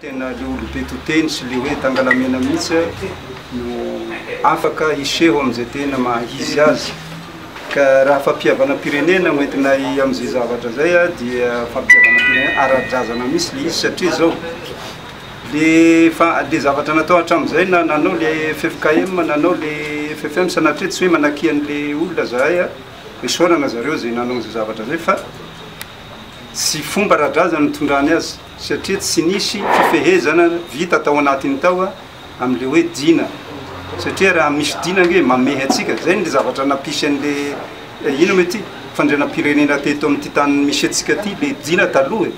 Tena le olobe to teny sy le hoe tangalamena mihitsy no afaka hiseho amin'izay tena maha-izy azy. Ka raha fampihavanam-pirenena no entinay amin'izay zavatra izay dia fampihavanam-pirenena ara-drazana mihitsy le izy satria izao le fa le zavatra natao hatramin'izay na nanao le ffkm nanao le ffm sanatria tsy hoe manakia an'le olona zahay isaorana zareo izay nanao an'izay zavatra izay fa Tsy fomba ara-drazana ny nitondrany azy satria tsy nisy fifehezana vita tao anatiny tao amin'ilay hoe Dina satria raha misy Dina ange mamehy antsika, zay ny zavatra nampisy an'ilay ino moa ity fandrianam-pirenena teto amin'ity tany misy antsika ity ilay Dina taloha e!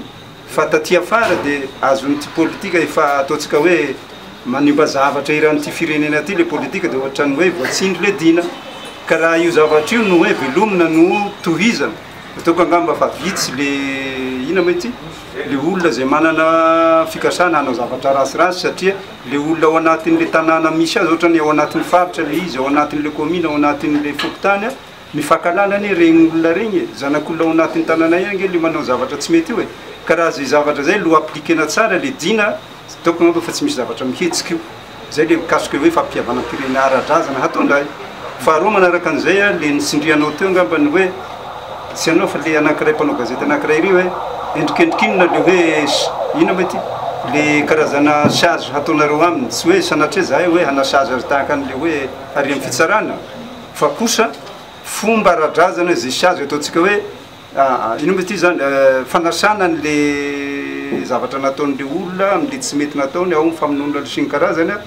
fa taty afara dia azon'ity politika efa ataontsika hoe manimba zavatra eran'ity firenena ity ilay politika dia ohatran'ny hoe voatsindry ilay Dina ka raha io zavatra io no hoe velomina no tohizana Ataoko angamba fa vitsy le ina ma ity le olona zay manana fikasana hanao zavatra rasirasy satria le olona ao anatin'le tanàna misy azy ohatra ny ao anatin'ny faritra le izy ao anatin'le kaomina ao anatin'le fokontany a mifankahalala anie regny olona regny e, zanak'olona ao anatin'ny tanànay any nge le manao zavatra tsy mety io e, ka raha zay zavatra zay lo appliquena tsara le dina ataoko angamba fa tsy misy zavatra mihetsika io. Izay ilay mikasika hoe fampihavanam-pirenena ara-drazana hahatonga ahy. Faharoa manaraka an'izay, ilay nitsindrianao teo angamba ny hoe, tsy ianao fa ilay anankiray mpanao gazety anankiray iry hoe, endrikendrika inona ilay hoe, inona moa ity? ilay karazana charge hataonareo aminy, tsy hoe sanatria izahay hoe hana-charge azy tahaka an'ilay hoe harian'ny fitsarana, fa kosa fomba ara-drazana izay charge ataontsika hoe, Aa inona moa ity izany fanasana an'le zavatra nataon'le olona am'le tsy mety nataony ao amin'ny famonoana sy ny karazany a,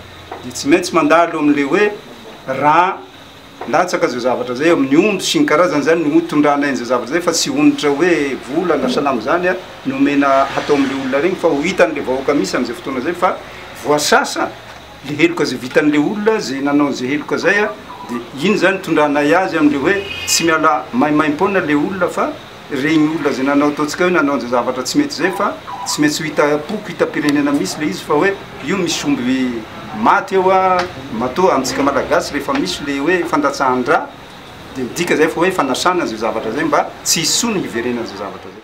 dia tsy maintsy mandalo am'le hoe raha latsaka zay zavatra zay amin'ny omby sy ny karazany zany no ho tondrana aina zay zavatra zay fa tsy onitra hoe vola na salama zany a no omena hatao am'le olona regny fa ho hitan'le vahoaka misy am'zay fotoana zay fa voasasa le heloka zay vitan'le olona zay nanao an'zay heloka zay a, de iny zany itondranay azy am'le hoe tsy miala maimaimpoana le olona fa regny olona zay nanao ataontsika hoe nanao an'zay zavatra tsy mety zay fa tsy maintsy ho hita am-poko hitam-pirenena misy le izy fa hoe io misy omby maty eo a, matoa amintsika malagasy rehefa misy le hoe fandatsahan-dra de midika zay fa hoe fanasana an'zay zavatra zay mba tsy hisy tsony hiverenan'zay zavatra zay.